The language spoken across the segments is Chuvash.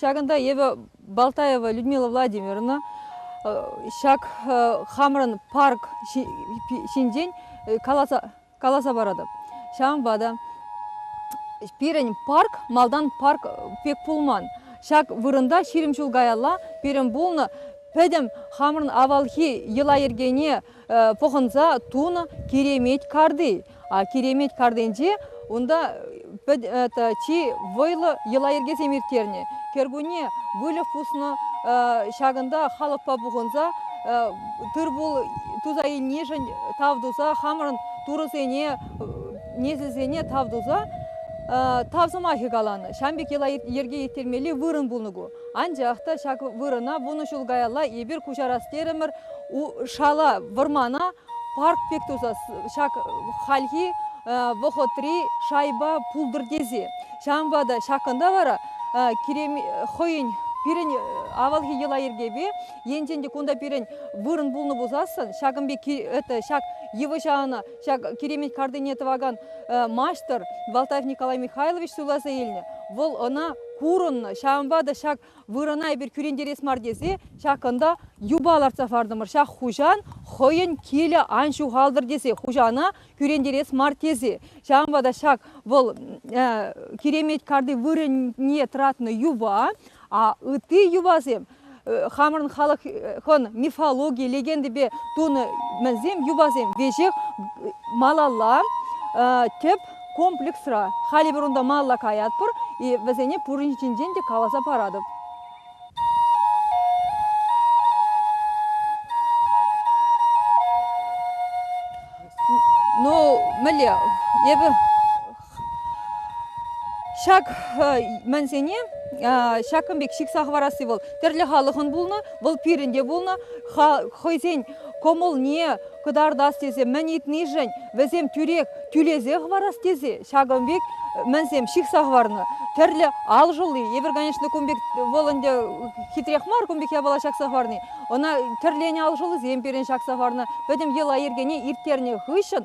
Ҫакӑнта эпӗ Балтаева Людмила Владимировна ҫак хамӑрӑн парк ҫинчен каласа каласа паратӑп. Ҫавӑнпа та пирӗн парк малтан парк пек пулман. Ҫак вырӑнта ҫирӗм ҫул каялла пирӗн пулнӑ пӗтӗм хамӑрӑн авалхи йӑла-йӗркене пӑхӑнса тунӑ киремет карти. А киремет картинче унта чи вӑйлӑ йӑла-йӗркесем ирттернӗ. Кӗркунне выльӑх пуснӑ, ҫакӑнта халӑхпа пухӑнса тыр-пул туса илнишӗн тав туса, хамӑрӑн турӑсене, несӗлсене тав туса тав сӑмахӗ каланӑ. Ҫавӑн пек йӑла-йӗрке ирттермелли вырӑн пулнӑ ку. Анчах та ҫак вырӑна вунӑ ҫул каялла эпир куҫарас терӗмӗр, шала, вӑрмана парк пек туса ҫак хальхи вӑхӑтри шайба пултӑр тесе. Ҫавӑнпа та ҫакӑнта вара кирем хӑйӗн пирӗн авалхи йӑла-йӗркепе енчен те кунта пирӗн вырӑн пулнӑ пулсассӑн ҫакӑн пек это ҫак йывӑҫа ӑна ҫак киремет картине тӑвакан маҫтӑр Валтаев Николай Михайлович суйласа илнӗ. Вӑл ӑна курӑннӑ. Ҫавӑнпа та ҫак вырӑна эпир кӳрентерес мар тесе ҫак кунта юпа лартса фартӑмӑр ҫак хуҫан хӑйӗн килӗ ан ҫухалтӑр тесе хуҫана кӳрентерес мар тесе ҫавӑнпа та ҫак вӑл киремет карти вырӑнне тӑратнӑ юпа а ытти юпасем хамӑрӑн халӑхӑн мифологи легендипе тунӑ мӗнсем юпасем веҫех малалла тӗп Комплексра халӗ эпир унта малла каятпӑр-и, вӗсене пурин ҫинчен те каласа паратӑп. Ну, мӗнле, эпӗ ҫак мӗнсене ҫакӑн пек ҫыхса хӑварасси вӑл тӗрлӗ халӑхӑн пулнӑ, вӑл пирӗн те пулнӑ, хӑйсен кӑмӑлне кӑтартас тесе мӗн ыйтнишӗн вӗсем тӳрех тӳлесе хӑварас тесе ҫакӑн пек мӗнсем ҫыхса хӑварнӑ тӗрлӗ ал шӑлли эпир конечно кун пек вӑл ӗнтӗ хитрех мар кун пек япала ҫакса хӑварни ӑна тӗрленӗ ал шӑллисем пирӗн ҫакса хӑварнӑ пӗтӗм йӑла-йӗркене ирттернӗ хыҫҫӑн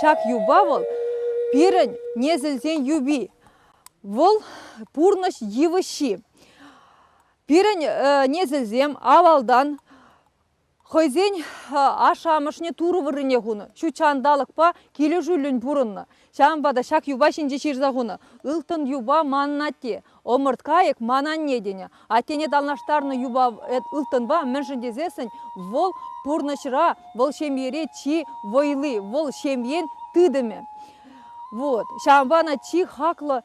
Ҫак юпа вӑл пирӗн несӗлсен юпи. Вӑл пурнӑҫ йывӑҫҫи. Пирӗн несӗлсем авалтан Хӑйсен ашшӗ-амӑшне Турӑ вырӑнне хунӑ, ҫутҫ ҫанталӑкпа килӗшӳллӗн пурӑннӑ. Ҫавӑнпа та ҫак юпа ҫинче ҫырса хунӑ «Ылтӑн юпа манӑн атте, ӑмӑрткайӑк ман анне» тенӗ. Аттене танлаштарнӑ юпа ылтӑнпа мӗншӗн тесессӗн вӑл пурнӑҫра, вӑл ҫемьере чи вӑйли, вӑл ҫемьен тытӑмӗ. Вот. Ҫавӑнпа ӑна чи хаклӑ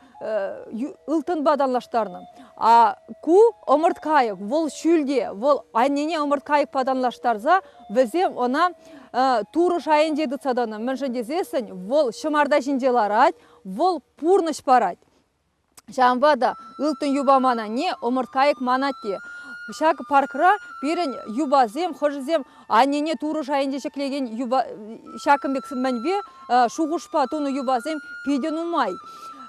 ылтӑнпа танлаштарнӑ. А ку ӑмӑрткайӑк, вӑл ҫӳлте, вӑл аннене ӑмӑрткайӑкпа танлаштарса вӗсем ӑна турӑ шайӗнче тытса тӑнӑ. Мӗншӗн тесессӗн вӑл ҫӑмарта ҫинче ларать, вӑл пурнӑҫ парать. Ҫавӑнпа та ылтӑн юпа ман анне, ӑмӑрткайӑк ман атте. Ҫак паркра пирӗн юпасем, хӑшӗсем Аннене турӑ шайӗнче ҫӗклекен юпа ҫакӑн пек мӗнпе шухӑшпа тунӑ юпасем питӗ нумай.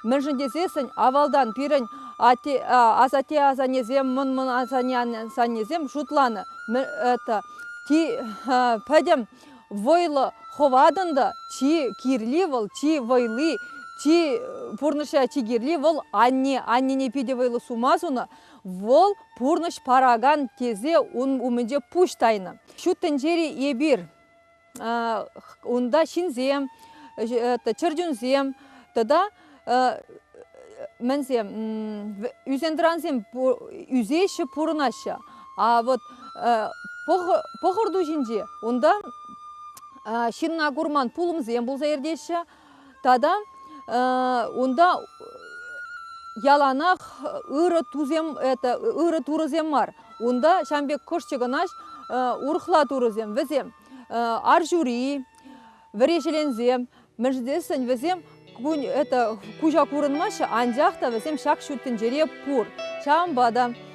Мӗншӗн тесессӗн авалтан пирӗн асатте-асаннесем, мӑн-мӑн асаннесем шутланӑ это ти пӗтӗм вӑйлӑ хӑватӑн та чи кирли вӑл чи вӑйли чи пурнӑҫра чи кирли вӑл анне аннене питӗ вӑйлӑ сума сунӑ Вӑл пурнӑҫ паракан тесе ун умӗнче пуҫ тайнӑ. Ҫут тӗнчери эпир унта ҫынсем, чӗрчунсем тата мӗнсем ӳсентӑрансем ӳсеҫҫӗ, пурӑнаҫҫӗ. А вот пӑхӑр ту ҫинче унта ҫынна курман пулӑмсем пулса иртеҫҫӗ. Тата унта яланах ырӑ тусем это ырӑ турӑсем мар. Унта ҫавӑн пек кӑшт чӑкӑнаҫ урӑхла турӑсем. Вӗсем ар ҫури, вӗреҫеленсем, мӗншӗн тесен вӗсем это куҫа курӑнмаҫҫӗ, анчах та вӗсем ҫак ҫут тӗнчере пур. Ҫавӑнпа та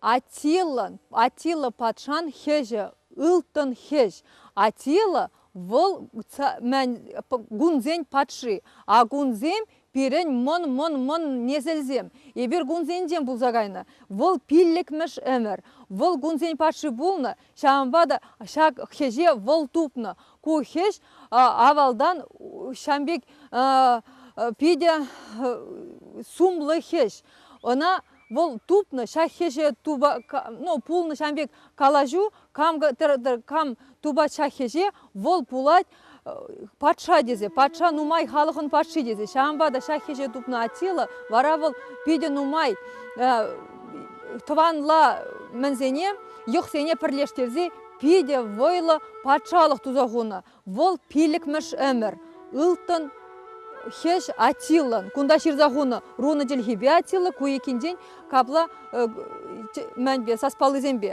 Аттилӑн, Аттила патшан хӗҫӗ, ылтӑн хӗҫ. Аттила вӑл гунсен патши, а гунсем пирӗн мӑн-мӑн-мӑн несӗлсем. Эпир гунсенчен пулса кайнӑ. Вӑл пиллӗкмӗш ӗмӗр. Вӑл гунсен патши пулнӑ, ҫавӑнпа та ҫак хӗҫе вӑл тупнӑ. Ку хӗҫ авалтан ҫам пек питӗ сумлӑ хӗҫ. Ӑна вӑл тупнӑ ҫак хӗҫе туба ну пулнӑ ҫавӑн пек калаҫу кам кам тупать ҫак хӗҫе вӑл пулать патша тесе патша нумай халӑхӑн патши тесе ҫавӑнпа та ҫак хӗҫе тупнӑ Аттила вара вӑл питӗ нумай тӑванла мӗнсене йӑхсене пӗрлештерсе питӗ вӑйлӑ патшалӑх туса хунӑ Вӑл пиллӗкмӗш ӗмӗр Ылтӑн хӗҫ Аттилӑн кунта ҫырса хунӑ рунӑ чӗлхипе Аттила ку иккинчен капла мӗнпе саспаллисемпе.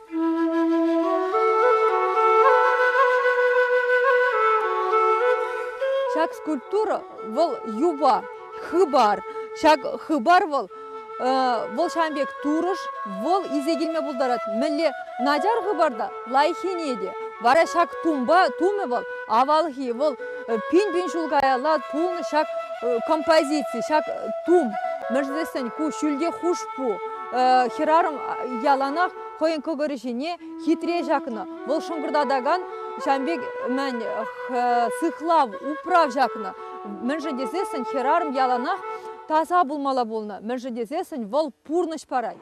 Ҫак скульптура вӑл юпа, хыпар. Ҫак хыпар вӑл вӑл ҫавӑн пек турӑш, вӑл илсе килме пултарать. Мӗнле начар хыпар та лайӑххине те. Вара ҫак тумпа тумӗ вӑл авалхи, вӑл пин-пин ҫул каялла пулнӑ ҫак композици, ҫак тум. Мӗншӗн тесен ку ҫӳлте хушпу. хӗрарӑм яланах хӑйӗн кӑкӑрӗ ҫине хитре ҫакнӑ. Вӑл шӑнкӑртатакан ҫавӑн пек мӗн сыхлав, управ ҫакнӑ. Мӗншӗн тесессӗн хӗрарӑм яланах таса пулмалла пулнӑ. Мӗншӗн тесессӗн вӑл пурнӑҫ парать.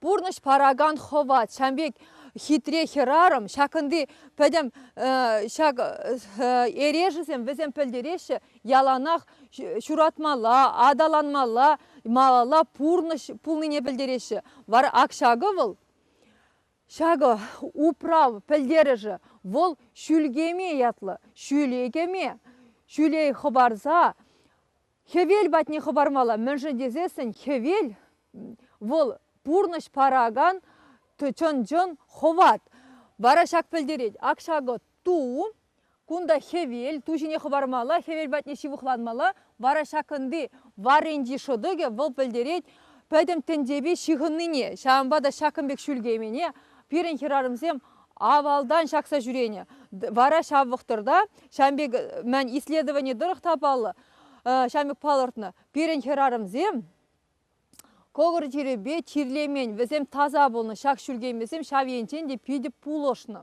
Пурнӑҫ паракан хӑват. Ҫавӑн пек хитре хӗрарӑм, ҫакӑнти пӗтӗм ҫак эрешӗсем вӗсем пӗлтереҫҫӗ, яланах ҫуратмалла, аталанмалла, малалла пурнӑҫ пулнине пӗлтереҫҫӗ. Вара ак ҫакӑ вӑл Ҫакӑ управ пӗлтерӗшӗ вӑл ҫӳл кеме ятлӑ, ҫӳле кӗме. Ҫӳле хӑпарса хӗвел патне хӑпармалла. Мӗншӗн тесессӗн хӗвел вӑл пурнӑҫ паракан чӑн-чӑн хӑват. Вара ҫак пӗлтерет, ак ҫакӑ Ту, кунта хӗвел, ту ҫине хӑвармалла, хӗвел патне ҫывӑхланмалла. Вара ҫакӑнти варринчи шӑтӑкӗ вӑл пӗлтерет пӗтӗм тӗнчепе ҫыхӑннине, ҫавӑнпа та ҫакӑн пек ҫӳлкеймене пирӗн хӗрарӑмсем авалтан ҫакса ҫӳренӗ. Вара ҫав вӑхӑтра ҫавӑн пек мӗн исследовани тӑрӑх та паллӑ, ҫавӑн пек палӑртнӑ, пирӗн хӗрарӑмсем кӑкӑр чирӗпе чирлемен, вӗсем таса пулнӑ. Ҫак ҫӳлкеймесем ҫав енчен те питӗ пулӑшнӑ.